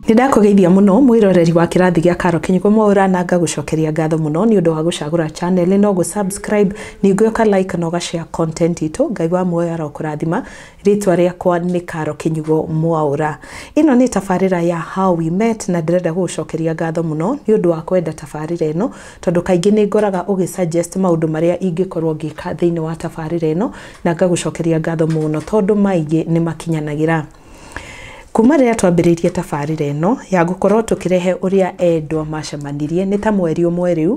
Nĩndakũgeithia mũno mwĩroreri wa kĩrathi gĩa Karo Kĩnyugo Mwaũra na ngagũcokeria ngatho mũno nĩ ũndũ wa gũcagũra channel ĩno, gũ subscribe, ningĩ ũka like na ũga share content itũ. Ngai wa muoyo arokũrathima. Rĩtwa rĩakwa nĩ Karo Kĩnyugo Mwaũra. Ĩno nĩ tabarĩra ya How We Met na ndĩrenda gũgũcokeria ngatho mũno nĩ ũndũ wa kwenda tabarĩra ĩno tondũ kaingĩ nĩngoraga ũgĩ suggest maũndũ marĩa ingĩkorwo ngĩka thĩinĩ wa tabarĩra ĩno na ngagũcokeria ngatho mũno tondũ maingĩ nĩmakinyanagĩra. Kuma rĩrĩa twambĩrĩirie tabarĩra ĩno ya gũkorwo tũkĩrehe ũrĩa endwa macemanirie nĩ ta mweri ũmwe rĩu,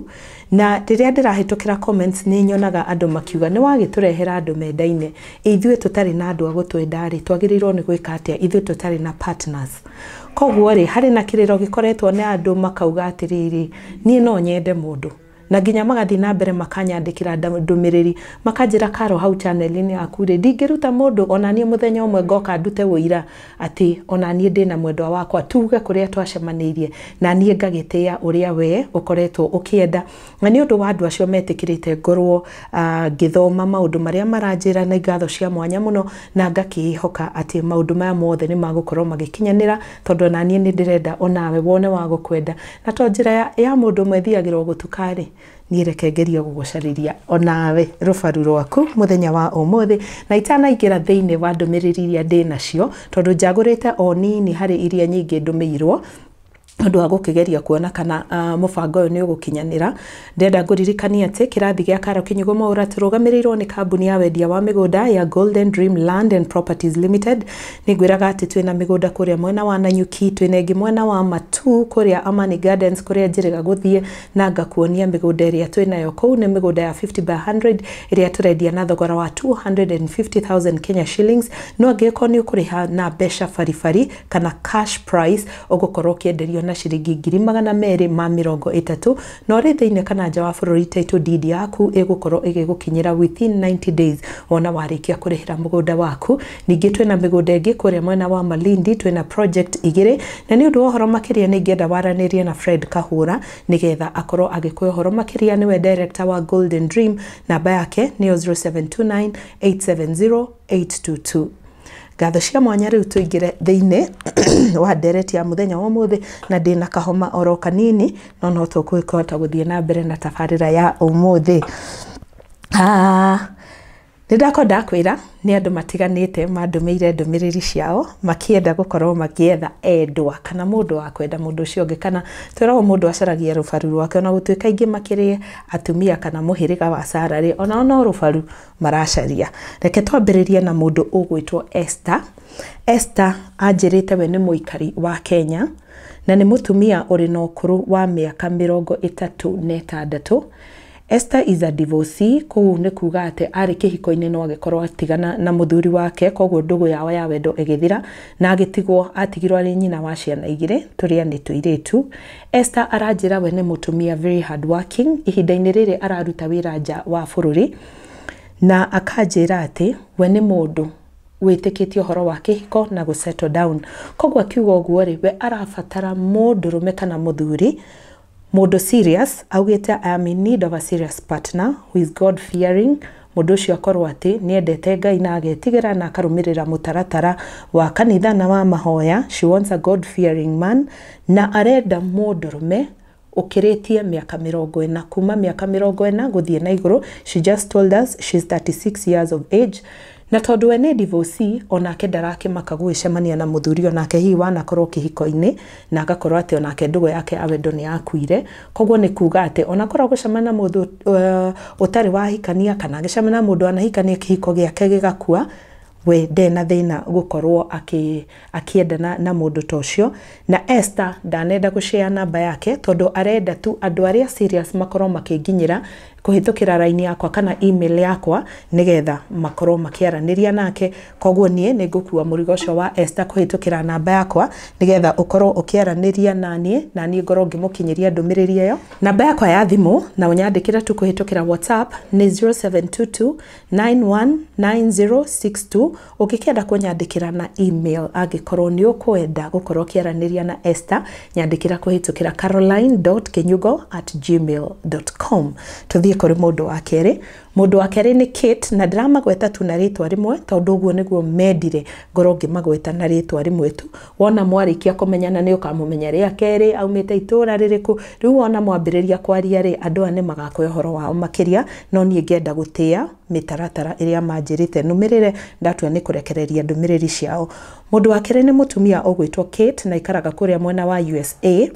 na rĩrĩa ndĩrahĩtũkĩra comments nĩ nyonaga andũ makiuga nĩ wagĩtũrehera andũ mendaine, ithuĩ tũtarĩ na andũ a gũtwenda rĩ twagĩrĩirwo nĩ gwĩka atĩa ithuĩ tũtarĩ na partners. Koguo rĩ harĩ na kĩrĩro gĩkoretwo na andũ makauga atĩrĩrĩ niĩ no nyende mũndũ. na nginya magathiĩ na mbere makanyandĩkĩra ndũmĩrĩri makanjĩra karo hau chaneli-inĩ yaku rĩ ndingĩruta mũndũ onaniĩ mũthenya ũmwe ngoka ndute wũira atĩ onaniĩ ndĩ na mwendwa wakwa tuge kũrĩa twacemanĩirie na niĩ ngagĩtĩa ũrĩa wee ũkoretwo ũkĩenda na nĩ ũndũ wa andũ acio metĩkĩrĩte ngorwo uh, ngĩthoma maũndũ marĩa maranjĩra na ngatho cia mwanya mũno na ngakĩĩhoka atĩ maũndũ maya mothe nĩ magũkorwo magĩkinyanĩra Tondũ ona niĩ nĩ ndĩrenda o nawe wone wa gũkwenda, na to njĩra ya, ya mũndũ ũmwe thiagĩra o gũtuka-rĩ, niĩ reke ngerie gũgũcarĩria o nawe rũbaru rwaku mũthenya wa ũmũthĩ, na itanaingĩra thĩinĩ wa ndũmĩrĩri iria ndĩ nacio, tondũ njagũrĩte o nini harĩ iria nyingĩ ndũmĩirwo, nĩ ũndũ wa gũkĩgeria kuona kana mũbango ũyũ nĩ ũgũkinyanĩra. Ndĩrenda ngũririkanie atĩ kĩrathi gĩa Karo Kinyugo Mwaura tũrũgamĩrĩirwo nĩ kambuni ya wendia wa mĩgũnda ya Golden Dream Land and Properties Limited. Nĩngwĩraga atĩ twĩna mĩgũnda kũrĩa mwena wa Nanyuki, twĩna ĩngĩ mwena wa Matu kũrĩa Amani Gardens kũrĩa njĩrĩga gũthiĩ na ngakuonia mĩgũnda ĩrĩa twĩnayo kũu. Nĩ mĩgũnda ya 50 by 100 ĩrĩa tũrendia na thogora wa 250,000 Kenya shillings, no angĩgĩkorwo nĩ ũkũrĩha na mbeca baribari kana cash price ũgũkorwo ũkĩenderio na ciringi ngiri magana merĩ ma mĩrongo ĩtatũ. No rĩ, thĩinĩ kana nja wa bũrũri title deed yaku ĩgũkorwo ĩgĩgũkinyĩra within 90 days wona warĩkia kũrĩhĩra mũgũnda waku. Ningĩ twĩna mĩgũnda ĩngĩ kũrĩa mwena wa Malindi, twĩna project igĩrĩ, na nĩ ũndũ wa ũhoro makĩria nĩ ingĩenda waranĩrie na Fred Kahũra nĩgetha akorwo agĩkũhe ũhoro makĩria, nĩwe director wa Golden Dream, namba yake nĩyo 0729 870 822. Ngatho cia mwanya rĩu tũingĩre thĩinĩ wa ndereti ya mũthenya wa ũmũthĩ na ndĩna kahoma oro kanini no no tũkũhota gũthiĩ na mbere na tabarĩra ya ũmũthĩ. Nĩ ndakorwo ndakwĩra nĩ andũ matiganĩte mandũmĩire ndũmĩrĩri ciao makĩenda gũkorwo magĩetha endwa kana mũndũ wa kwenda mũndũ ũcio ũngĩ kana twĩragwo mũndũ acaragia rũbaru rwake ona gũtuĩka aingĩ makĩrĩ atumia kana mũhĩrĩga wa Sarah rĩ onao no rũbaru maracaria. Reke twambĩrĩrie na mũndũ ũgwĩtwo Esther. Esther anjĩrĩte we nĩ mũikari wa Kenya na nĩ mũtumia ũrĩ na ũkũrũ wa mĩaka mĩrongo ĩtatũ na ĩtandatũ. Esther is a divorcee, kũu nĩ kuuga atĩ arĩ kĩhiko-inĩ no agĩkorwo atigana na mũthuri wake, koguo ndũgũ yao ya wendo ĩgĩthira na agĩtigwo atigirwo arĩ nyina wa ciana igĩrĩ, tũrĩa nĩ tũirĩtu. Esther aranjĩra we nĩ mũtumia very hard working, ihinda-inĩ rĩrĩ araruta wĩra nja wa bũrũri, na akanjĩra atĩ we nĩ mũndũ wĩtĩkĩtie ũhoro wa kĩhiko na gũ settle down. Koguo akiuga ũguo rĩ, we arabatara mũndũrũme kana mũthuri mũndũ serious, augĩte I am in need of a serious partner who is God fearing, Mũndũ ũcio akorũo atĩ nĩ endete Ngai na agetigĩra na akarũmĩrĩra mũtaratara wa kanitha na wa mahoya, she wants a God-fearing man, na arenda mũndũrũme ũkĩrĩtie mĩaka mĩrongo ĩna, kuuma mĩaka mĩrongo ĩna gũthiĩ na igũrũ, she just told us she's thirty six years of age, na tondũ we nĩ divorcee, o nake ndarakĩmaka gũgĩcemania na mũthuri o nake hihi wanakorũo kĩhiko-inĩ, na agakorũo atĩ o nake ndũgũ yake ya wendo nĩ yakuire, Koguo nĩ kuuga atĩ ona korwo gũcemania na mũndũ ũtarĩ wahikania kana agĩcemania na mũndũ anahikania kĩhiko gĩake gĩgakua, we ndarĩ na thĩna gũkorwo akĩendana na mũndũ ta ũcio. Na Esther ndanenda gũ share namba yake tondũ arenda tu andũ arĩa serious makorwo makĩnginyĩra kũhĩtũkĩra raini yakwa kana email yakwa nĩgetha makorwo makĩaranĩria nake koguo niĩ nĩ ngũkua mũrigo ũcio wa Esther kũhĩtũkĩra namba yakwa nĩgetha ũkorwo ũkĩaranĩria na niĩ na niĩ ngorwo ngĩmũkinyĩria ndũmĩrĩri ĩyo namba yakwa ya thimũ na ũnyandĩkĩre tu kũhĩtũkĩra WhatsApp nĩ 0722 919062 Ũngĩkenda kũnyandĩkĩra na e-mail angĩkorũo nĩ ũkwenda gũkorũo ũkĩaranĩria na Esther, nyandĩkĩra kũhĩtũkĩra caroline dot kinyugo at gmail dot com. Tũthiĩ kũrĩ mũndũ wa kerĩ. Mũndũ wa kerĩ nĩ Kate, na ndĩramagweta tu na rĩĩtwa rĩmwe tondũ ũguo nĩguo mendire ngorũo ngĩmagweta na rĩĩtwa rĩmwe tu. Wona mwarĩkia kũmenyana nĩ ũkamũmenya rĩa kerĩ, aumĩte itũũra rĩrĩkũ. Rĩu wona mwambĩrĩria kwaria-rĩ, andũ aya nĩ magakwĩra ũhoro wao makĩria, no niĩ ngenda gũtĩa mĩtaratara ĩrĩa manjĩrĩte nũmĩrĩre ndatua nĩ kũrekereria ndũmĩrĩri ciao. Mũndũ wa kerĩ nĩ mũtumia ũgwĩtwo Kate na aikaraga kũrĩa mwena wa USA.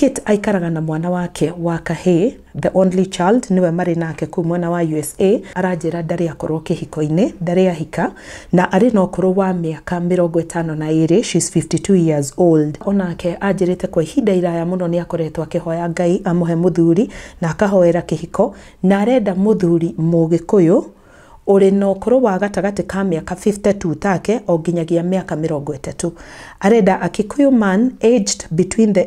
Kate aikaraga na mwana wake wa kahĩĩ, the only child, nĩwe marĩ nake kũu mwena wa USA. Aranjĩra ndarĩ akorwo kĩhiko-inĩ, ndarĩ ahika na arĩ na ũkũrũ wa mĩaka mĩrongo ĩtano na ĩrĩ, she's 52 years old. O nake anjĩrĩte kwa ihinda iraya mũno nĩ akoretwo akĩhoya Ngai amũhe mũthuri na akahoera kĩhiko Na arenda mũthuri Mũgĩkũyũ ũrĩ na ũkũrũ wa gatagatĩ ka mĩaka 50 to take o nginyagia mĩaka mĩrongo ĩtatũ. Arenda a Kikuyu man aged between the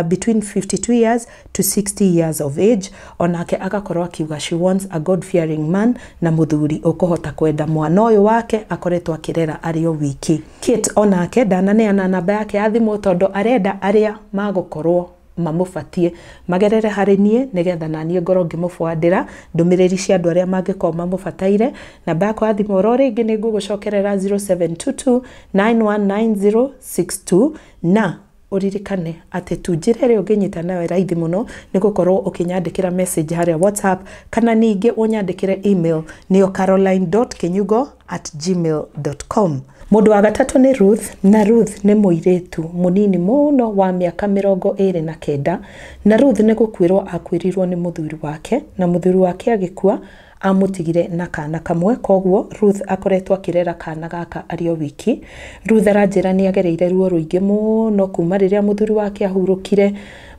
between 52 years to 60 years of age o nake agakorwo akiuga she wants a God fearing man na mũthuri ũkũhota kwenda mwana ũyũ wake akoretwo akĩrera arĩ o wiki. Kate o nake ndananeana namba yake ya thimũ tondũ arenda arĩa magũkorwo. mamũbatie magerere harĩ niĩ nĩgetha naniĩ ngorwo ngĩmũbwandĩra ndũmĩrĩri cia andũ arĩa mangĩkorwo mamũbataire. Namba yakwa ya thimũ oro rĩngĩ nĩ ngũgũcokerera zero seven two two nine one nine zero six two na ũririkane atĩ tu njĩra ĩrĩa ũngĩnyita nayo raithi mũno nĩ gũkorwo ũkĩnyandĩkĩra message harĩa WhatsApp kana ningĩ ũnyandĩkĩre email nĩyo caroline dot kinyugo at gmail.com. Mũndũ wa gatatũ nĩ Ruth, na Ruth nĩ mũirĩtu mũnini mũno wa mĩaka mĩrongo ĩrĩ na kenda, na Ruth nĩ gũkuĩrwo akuĩrirwo nĩ mũthuri wake, na mũthuri wake agĩkua amũtigire na kana kamwe, koguo Ruth akoretwo akĩrera kana gaka arĩ o wiki. Ruth aranjĩra nĩ agereire ruo rũingĩ mũno kuma rĩrĩa mũthuri wake ahurũkire,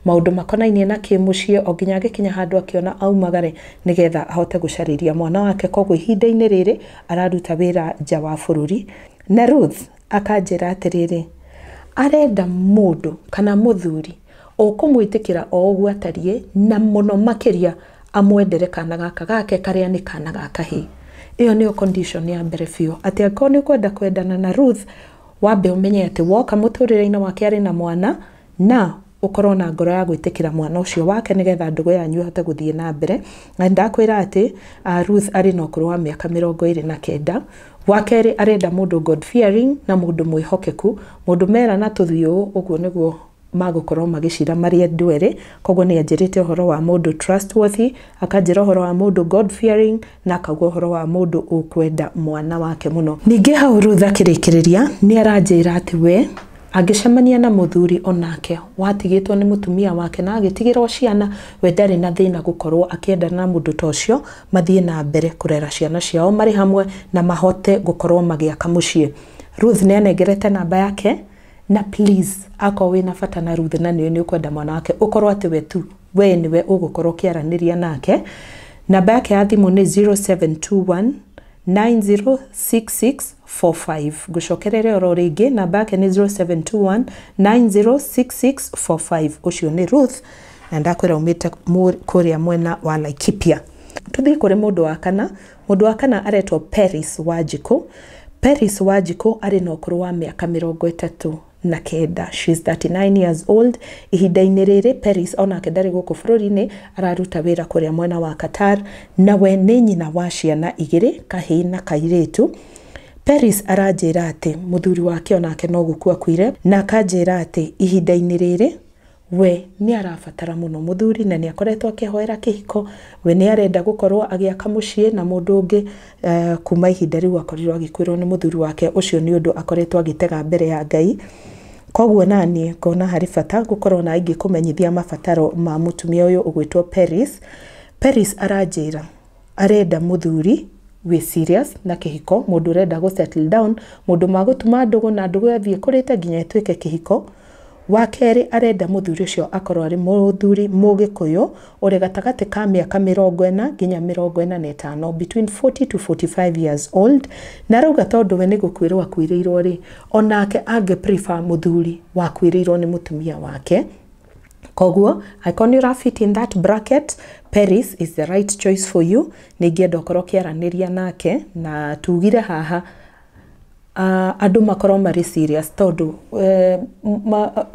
maũndũ makonainie na kĩmũciĩ o nginya agĩkinya handũ akĩona aumagare nĩgetha ahote gũcarĩria mwana wake, koguo ihinda-inĩ rĩrĩ araruta wĩra nja wa bũrũri. Na Ruth akanjĩra atĩrĩrĩ, arenda mũndũ kana mũthuri ũkũmwĩtĩkĩra o ũguo atariĩ, na mũno makĩria amwendere kana gaka gake karĩa nĩ kana ga kahĩĩ. Ĩyo nĩyo condition ya mbere biũ, atĩ angĩkorwo nĩ ũkwenda kwendana na Ruth, wambe ũmenye atĩ woka mũtũrĩre-inĩ wake arĩ na mwana, na ũkorwo na ngoro ya gwĩtĩkĩra mwana ũcio wake nĩgetha ndũgũ yanyu ĩhote gũthiĩ na mbere. Na ndakwĩra atĩ Ruth arĩ na ũkũrũ wa mĩaka mĩrongo ĩrĩ na kenda. Wa kerĩ arenda mũndũ God fearing na mũndũ mwĩhokeku, mũndũ mera na tũthiũ ũũ, ũguo nĩguo magũkorwo magĩcira marĩ andũ erĩ. Koguo nĩ anjĩrĩte ũhoro wa mũndũ trustworthy, akanjĩra ũhoro wa mũndũ God fearing na akaugua ũhoro wa mũndũ ũkwenda mwana wake mũno. Ningĩ hau Ruth akĩrĩkĩrĩria nĩ aranjĩra atĩ we angĩcemania na mũthuri onake watigĩtwo nĩ mũtumia wake na agĩtigĩrwo ciana, we ndarĩ na thĩna gũkorwo akĩendana na mũndũ ta ũcio mathiĩ na mbere kũrera ciana ciao marĩ hamwe na mahote gũkorwo magĩaka mũciĩ. Ruth nĩ anengerete namba yake na please akorwo wĩna bata na Ruth na nĩũĩ nĩ ũkwenda mwana wake ũkorwo atĩ we tu Wee nĩwe ũgũkorwo ũkĩaranĩria nake. Namba yake ya thimũ nĩ 0721 906645. Ngũcokerere oro rĩngĩ, namba yake nĩ 0721 906645. Ũcio nĩ Ruth, na ndakwĩra umĩte mũ- kũrĩa mwena wa Laikipia. Tũthiĩ kũrĩ mũndũ wa kana. Mũndũ wa kana aretwo Peris Wanjikũ. Peris Wanjikũ arĩ na ũkũrũ wa mĩaka mĩrongo ĩtatũ na kenda. She is 39 years old. Ihinda-inĩ rĩrĩ Peris onake ndarĩ gũkũ bũrũri-inĩ, araruta wĩra kũrĩa mwena wa Qatar, na we nĩ nyina wa ciana igĩrĩ, kahĩĩ na kairĩtu. Peris aranjĩra atĩ mũthuri wake onake no gũkua akuire, na akanjĩra atĩ ihinda-inĩ rĩrĩ We nĩ arabatara mũno mũthuri na nĩ akoretwo akĩhoera kĩhiko. We nĩ arenda gũkorũo agĩaka mũciĩ na mũndũ ũngĩ. Kuuma ihinda rĩu akorirũo agĩkuĩrũo nĩ mũthuri wake, ũcio nĩ ũndũ akoretwo agĩtega mbere ya Ngai. Kwoguo naniĩ ngona harĩ bata gũkorũo nawe ngĩkũmenyithia mabataro ma mũtumia ũyũ ũgwĩtwo Peris. Peris aranjĩra. Arenda mũthuri wĩ serious na kĩhiko, mũndũ ũrenda gũ settle down, mũndũ magũtuma ndũgũ na ndũgũ ĩyo ĩthiĩ ĩkũrĩte nginya ĩtuĩke kĩhiko. Wa kerĩ arenda mũthuri ũcio akorwo arĩ mũthuri mũgĩkũyũ ũrĩ gatagatĩ ka mĩaka mĩrongo ĩna nginya mĩrongo ĩna na ĩtano, between forty to forty five years old. Na arauga tondũ we nĩ gũkuĩrwo akuĩrĩirwo rĩ, onake angĩ prefer mũthuri wakuĩrĩirwo nĩ mũtumia wake. Koguo, angĩkorwo nĩ ũra fit in that bracket, Paris is the right choice for you. Nĩ ingĩenda ũkorwo ũkĩaranĩria nake, na tugire haha andũ makorwo marĩ serious tondũ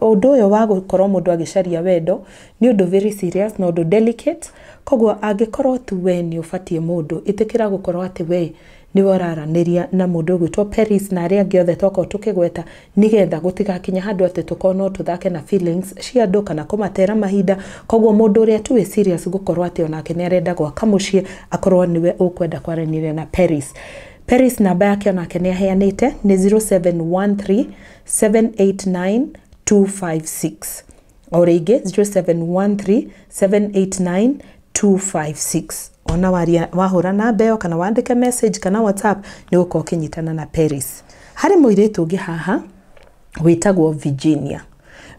ũndũ ũyũ wa gũkorwo mũndũ agĩcaria wendo nĩ ũndũ very serious na ũndũ delicate, koguo angĩkorwo tu we nĩ ũbatiĩ mũndũ, ĩtĩkĩra gũkorwo atĩ we nĩwe ũraranĩria na mũndũ ũgwĩtwo Peris na arĩa angĩ othe tokorwo tũkĩgweta nĩgetha gũtigakinye handũ atĩ tũkorwo no tũthake na feelings cia andũ kana kũmatera mahinda koguo mũndũ ũrĩa tu wĩ serious gũkorwo atĩ onake nĩ arenda gwaka mũciĩ akorwo nĩwe ũkwenda kwaranĩria na Peris Peris namba yake onake nĩ aheanĩte nĩ 0713 789 256 o rĩngĩ 0713789256 ona waria wahũra namba ĩyo kana wandĩke message kana whatsapp nĩ gũkorwo ũkĩnyitana na Paris harĩ mũirĩtu ũngĩ haha wĩtagwo Virginia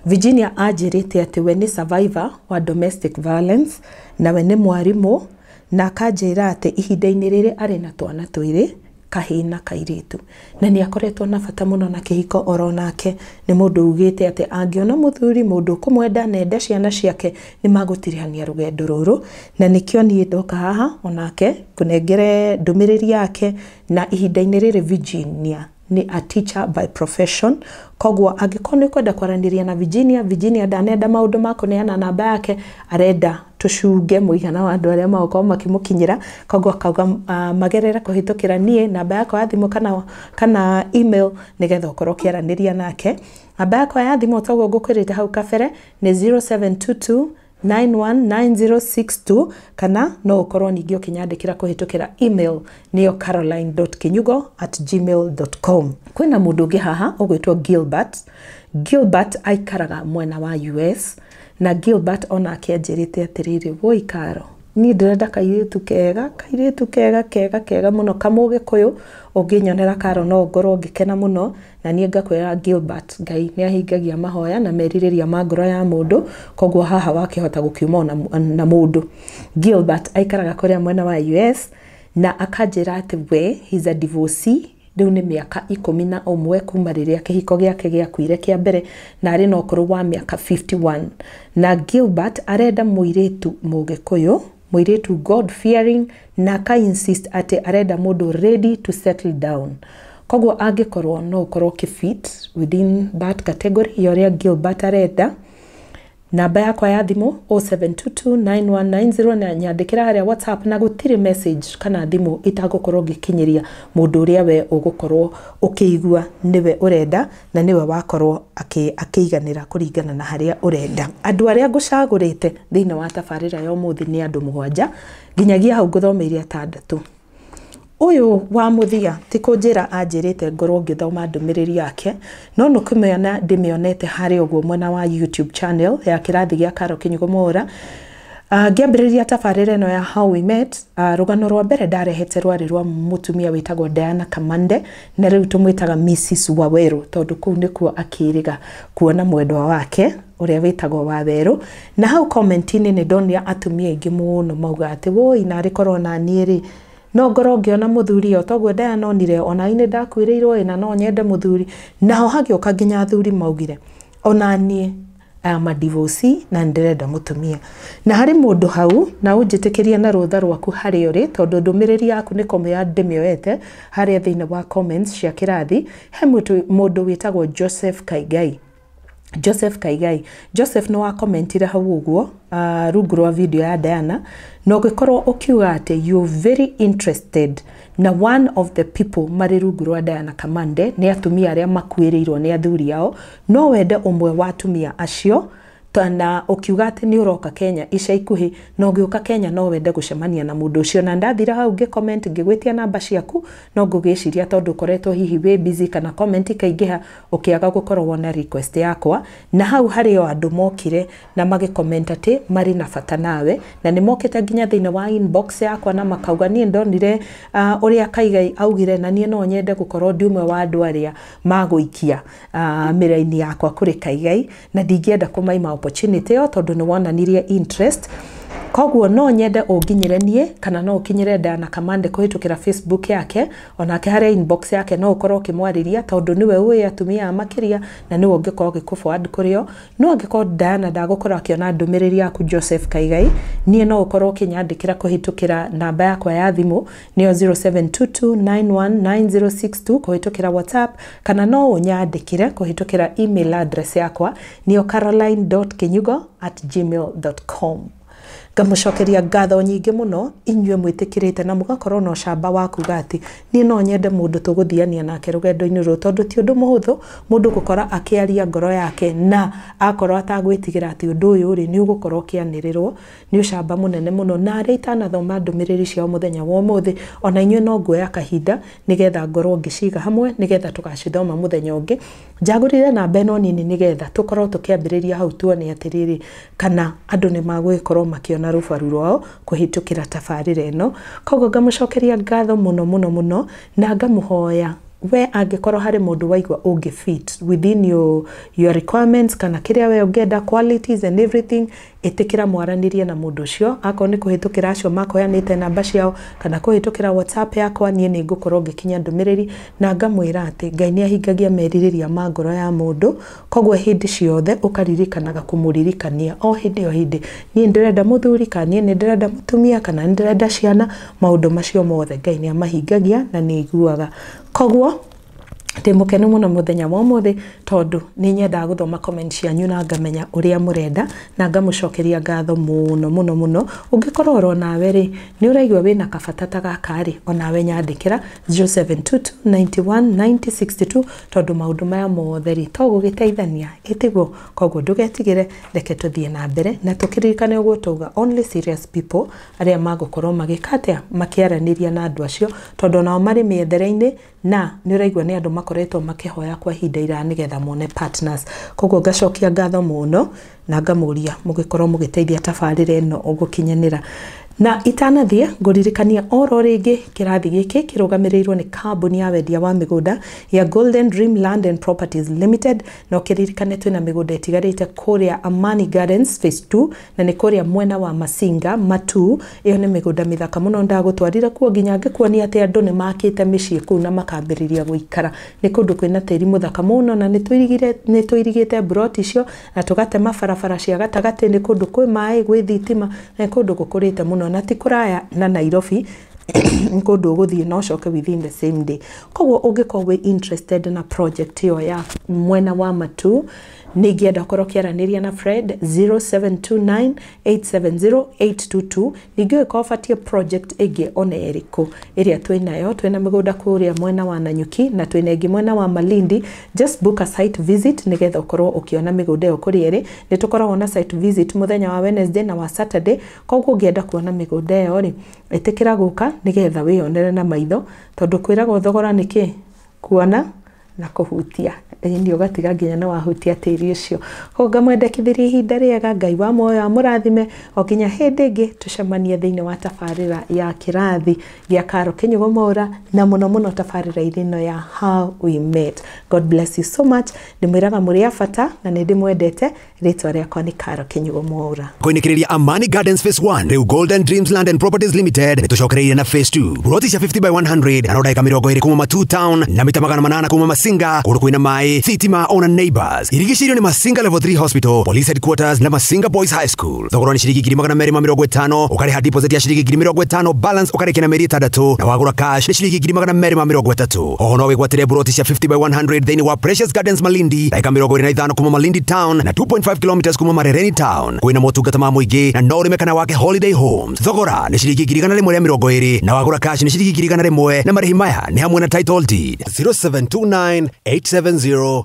Virginia anjĩrĩte atĩ we nĩ survivor wa domestic violence na we nĩ mwarimũ na akanjĩra atĩ ihinda-inĩ rĩrĩ arĩ na twana twĩrĩ kahĩĩ na kairĩtu. Na nĩ akoretwo na bata mũno na kĩhiko oro nake. Nĩ mũndũ ugĩte atĩ angĩona mũthuri, mũndũ ũkũmwenda na ende ciana ciake, nĩ magũtirihania rũgendo rũrũ. Na nĩkĩo niĩ ndoka haha onake ngũnengere ndũmĩrĩri yake. Na ihinda-inĩ rĩrĩ Virginia nĩ a teacher by profession. Koguo angĩkorwo nĩ ũkwenda kwaranĩria na Virginia, Virginia ndanenda maũndũ ma kũneana namba yake, arenda tũcunge mũigana wa andũ arĩa magũkorwo makĩmũkinyĩra koguo akauga uh, magerere kũhĩtũkĩra niĩ namba yakwa ya thimũ kana, kana email nĩgetha ũkorwo ũkĩaranĩria nake namba yakwa ya thimũ toguo ngũkwĩrĩte hau kabere nĩ 0722 919062 kana no ũkorwo ningĩ ũkĩnyandĩkĩra kũhĩtũkĩra email nĩyo caroline.kinyugo at gmail.com kwĩna mũndũ ũngĩ haha ũgwĩtwo gilbert gilbert aikaraga mwena wa us Na Gilbert o nake anjĩrĩte atĩrĩrĩ, woi Karo, niĩ ndĩrenda kairĩtu kega, kairĩtu kega kega kega mũno kamũgĩkũyũ, ũngĩnyonera Karo no ngorwo ngĩkena mũno, na niĩ ngakwĩra Gilbert, Ngai nĩ ahingagia mahoya na merirĩria ma ngoro ya mũndũ, koguo haha wakĩhota gũkiuma ona na mũndũ. Gilbert aikaraga kũrĩa mwena wa US, na akanjĩra atĩ we, he's a divorcee. Rĩu nĩ mĩaka ikũmi na ũmwe kuma rĩrĩa kĩhiko gĩake gĩakuire kĩa mbere na arĩ na ũkũrũ wa mĩaka 51. Na Gilbert arenda mũirĩtu Mũgĩkũyũ, mũirĩtu God fearing na aka insist atĩ arenda mũndũ ready to settle down. Koguo angĩkorwo no ũkorwo ũkĩ fit within that category ya ũrĩa Gilbert arenda, Namba yakwa ya thimũ 07229190 nyandĩkĩra harĩa WhatsApp na gũtirĩ message kana thimũ itangũkorwo ngĩkinyĩria mũndũ ũrĩa we ũgũkorwo ũkĩigua nĩwe ũrenda na nĩwe wakorwo akĩiganĩra kũringana na harĩa ũrenda. Andũ arĩa ngũcagũrĩte thĩinĩ wa tabarĩra ya ũmũthĩ nĩ andũ mũgwanja nginyagia hau ngũthomeire atandatũ. Ũyũ wa mũthia ti kũnjĩra anjĩrĩte ngorwo ngĩthoma ndũmĩrĩri yake, no nĩ kũmĩona ndĩmĩonete harĩa ũguo mwena wa YouTube channel ya kĩrathi gĩa Carol Kinyugo Mwaũra. Ah, Ngĩambĩrĩria tabarĩra ĩno ya How We Met, ah, rũgano rwa mbere ndarehete rwarĩ rwa mũtumia wĩtagwo Diana Kamande, na rĩu tũmwĩtaga Mrs Waweru, tondũ kũu nĩkuo akĩrĩga kuona mwendwa wake ũrĩa wĩtagwo Waweru. Na hau comment-inĩ nĩ ndonire atumia aingĩ mũno mauga atĩ wũi narĩ korwo o na niĩ rĩ, no ngorwo ngĩona mũthuri ĩĩ o toguo ndayanonire, o na niĩ nĩ ndakuĩrĩirwo ĩĩ na no nyende mũthuri. Naho hagĩũka nginya athuri maugire o na niĩ I am a divorcee na nĩ ndĩrenda mũtumia. Na harĩ mũndũ hau, na ũnjĩtĩkĩrie na rũtha rwaku harĩa ũrĩ tondũ ndũmĩrĩri yaku nĩ kũmĩoya ndĩmĩoete harĩa thĩinĩ wa comments cia kĩrathi, he mũndũ wĩtagwo Joseph Kaigai. Joseph Kaigai. Joseph nĩ wa commentire hau ũguo uh, rungu rwa video ya Diana na ũgĩkorwo ũkiuga atĩ you very interested na one of the people marĩ rungu rwa Diana Kamande nĩ atumia arĩa makuĩrĩirwo nĩ athuri ao no wende ũmwe wa atumia acio na ũkiuga atĩ nĩ ũroka Kenya ica ikuhĩ na ũngĩũka Kenya no wende gũcemania na mũndũ ũcio na ndathira hau ngĩ comment ngĩgwĩtia namba ciaku no ngũgĩciria tondũ ũkoretwo hihi wĩ busy kana comment ikaingĩha ũkĩaga gũkorwo wona request yakwa, na hau harĩ o andũ mokire na magĩ comment atĩ marĩ na bata nawe, na nĩ mokĩte nginya thĩinĩ wa inbox yakwa na makauga niĩ ndonire ũrĩa Kaigai augire na niĩ no nyende gũkorwo ndĩ ũmwe wa andũ arĩa magũikia mĩraini yakwa kũrĩ Kaigai, na ndingĩenda kũmaima opportunity ĩyo tondũ nĩ wonanirie interest, koguo no nyende ũnginyĩre niĩ kana no ũkinyĩre Diana Kamande kũhĩtũkĩra Facebook yake, Onake harĩa inbox yake no ũkorwo ũkĩmwarĩria tondũ nĩwe ũĩ atumia aya makĩria na nĩwe ũngĩkorwo ũgĩkũforward kũrĩ o. No angĩkorwo Diana ndagũkorwo akĩona ndũmĩrĩri yaku Joseph Kaigai, niĩ no ũkorwo ũkĩnyandĩkĩra kũhĩtũkĩra namba yakwa ya thimũ nĩyo 0722919062 kũhĩtũkĩra WhatsApp kana no ũnyandĩkĩre kũhĩtũkĩra email address yakwa nĩyo caroline.kinyugo@gmail.com. ngamũcokeria ngatho nyingĩ mũno inyuĩ mwĩtĩkĩrĩte na mũgakorwo na ũcamba wa kuga atĩ niĩ no nyende mũndũ tũgũthiania nake rũgendo-inĩ rũrũ tondũ ti ũndũ mũhũthũ mũndũ gũkora akĩaria ngoro yake na akorwo atagwĩtigĩra atĩ ũndũ ũyũ rĩ nĩ ũgũkorwo ũkĩanĩrĩrwo nĩ ũcamba mũnene mũno na arĩa itanathoma ndũmĩrĩri ciao mũthenya wa ũmũthĩ ona inyuĩ no nguoya kahinda nĩgetha ngorwo ngĩciga hamwe nĩgetha tũgacithoma mũthenya ũngĩ njagũrire namba ĩno nini nĩgetha tũkorwo tũkĩambĩrĩria hau tuone atĩrĩrĩ kana andũ nĩ magũgĩkorwo makĩona rũbaru rwao kũhĩtũkĩra tabarĩra ĩno. Koguo ngamũcokeria ngatho mũno mũno mũno na ngamũhoya we angĩkorwo harĩ mũndũ waigua ũngĩ fit within your, your requirements kana kĩrĩa we ũngĩenda qualities and everything ĩtĩkĩra mwaranĩrie na mũndũ ũcio akorwo nĩ kũhĩtũkĩra acio makoyanĩte namba ciao kana kũhĩtũkĩra whatsapp yakwa niĩ nĩ ngũkorwo ngĩkinya ndũmĩrĩri na ngamwĩra atĩ ngai nĩ ahingagia merirĩria ma ngoro ya mũndũ Koguo hĩndĩ ciothe ũkaririkanaga kũmũririkania o hĩndĩ o hĩndĩ, niĩ nĩndĩrenda mũthuri, kana niĩ nĩndĩrenda mũtumia, kana nĩndĩrenda ciana, maũndũ macio mothe Ngai nĩamahingagia na nĩaiguaga. Koguo ndĩ mũkenu mũno mũthenya wa ũmũthĩ tondũ nĩnyendaga gũthoma comment cianyu na ngamenya ũrĩa mũrenda na ngamũcokeria ngatho mũno mũno mũno. Ũngĩkorwo oro nawe rĩ, nĩũraigua wĩna kabata ta gaka rĩ, onawe nyandĩkĩra 0722919062 tondũ maũndũ maya mothe rĩ to gũgĩteithania ĩtiguo koguo ndũgetigĩre reke tũthiĩ na mbere na tũkĩririkane ũguo twauga only serious people arĩa magũkorwo magĩka atĩa makĩaranĩria na andũ acio tondũ onao marĩ mĩethere-inĩ na nĩ ũraigua nĩ andũ makoretwo makĩhoya kwa ihinda iraya nĩgetha mone partners koguo ngacokia ngatho mũno na ngamũria mũgĩkorwo mũgĩteithia tabarĩra ĩno gũkinyanĩra. Na itanathiĩ ngũririkania oro rĩngĩ kĩrathi gĩkĩ kĩrũgamĩrĩirwo nĩ kambuni ya wendia wa mĩgũnda ya Golden Dream Land and Properties Limited na ũkĩririkane twĩna mĩgũnda ĩtigarĩte kũrĩa Amani Gardens phase 2 na nĩ kũrĩa mwena wa Masinga Matu. Ĩyo nĩ mĩgũnda mĩthaka mũno ndagũtwarire kuo nginya ngĩkuonia atĩ andũ nĩ makĩte mĩciĩ kũu na makambĩrĩria gũikara. Nĩ kũndũ kwĩna tĩri mũthaka mũno na nĩ tũirigĩte mburoti icio Na tũgatema barabara cia gatagatĩ, nĩ kũndũ kwĩ maĩ, gwĩ thitima, na nĩ kũndũ gũkũrĩte mũno, na ti kũraya na Nairobi, nĩ kũndũ ũgũthiĩ na ũcoke within the same day. Koguo ũngĩkorwo wĩ interested na project ĩyo ya mwena wa Matuu, nĩ ingĩenda ũkorwo ũkĩaranĩria na Fred, 0729... 870822 ningĩ ũngĩkorwo ũbatiĩ project ĩngĩ ona ĩrĩkũ ĩrĩa twĩ nayo twĩ na mĩgũnda kũrĩa mwena wa Nanyuki na twĩ na ĩngĩ mwena wa Malindi just book a site visit nĩgetha ũkorwo ũkĩona mĩgũnda ĩyo kũrĩa ĩrĩ nĩ tũkoragwo na site visit mũthenya wa Wednesday na wa Saturday koguo ũngĩenda kuona mĩgũnda ĩyo rĩ ĩtĩkĩra gũka nĩgetha wĩyonere na maitho tondũ kwĩragwo thogora nĩ kĩ kuona na kũhutia ĩni ũgatiga nginya nĩ wahutia tĩri ũcio koguo ngamwendekithĩria ihinda rĩega ngai wa muoyo amũrathime o nginya hĩndĩ ĩngĩ tũcemanie thĩinĩ wa tabarĩra ya kĩrathi gĩa karo kĩnyugo mwaura na mũno mũno tabarĩra irĩ ĩno ya how we met god bless you so much ndĩmwĩraga mũrĩ a bata na nĩ ndĩmwendete rĩtwa rĩakwa nĩ karo kĩnyugo mwaura koinĩkĩrĩria amani gardens phase 1 rĩu golden dreams land and properties limited nĩtũcokereire na phase 2 roti cia 50 by 100 na rodagĩka mĩrongo ĩrĩ kuma matu town na mita magana manana kuma masinga kũndũ kwĩna maĩ thitima ona neighbors irigicĩirio nĩ masinga level 3 hospital police headquarters na masinga boys high school thogora nĩ ciringi ngiri magana merĩ ma mĩrongo ĩtano ũkarĩha deposit ya ciringi ngiri mĩrongo ĩtano balance ũkarĩkia na mĩeri ĩtandatũ na wagũra cash nĩ ciringi ngiri magana merĩ ma mĩrongo ĩtatũ oho no wĩgwatĩre buroti cia 50 by 100 thĩinĩ wa Precious Gardens Malindi na eka mĩrongo ĩrĩ na ithano kuma Malindi town na 2.5 kilometers kuma Marereni town kwĩna motungata ma mũingĩ na no ũrĩme kana wake holiday homes thogora nĩ ciringi ngiri igana rĩmwe rĩa mĩrongo ĩrĩ na wagũra cash nĩ ciringi ngiri igana rĩmwe na marĩhi maya nĩ hamwe na title deed 0729 870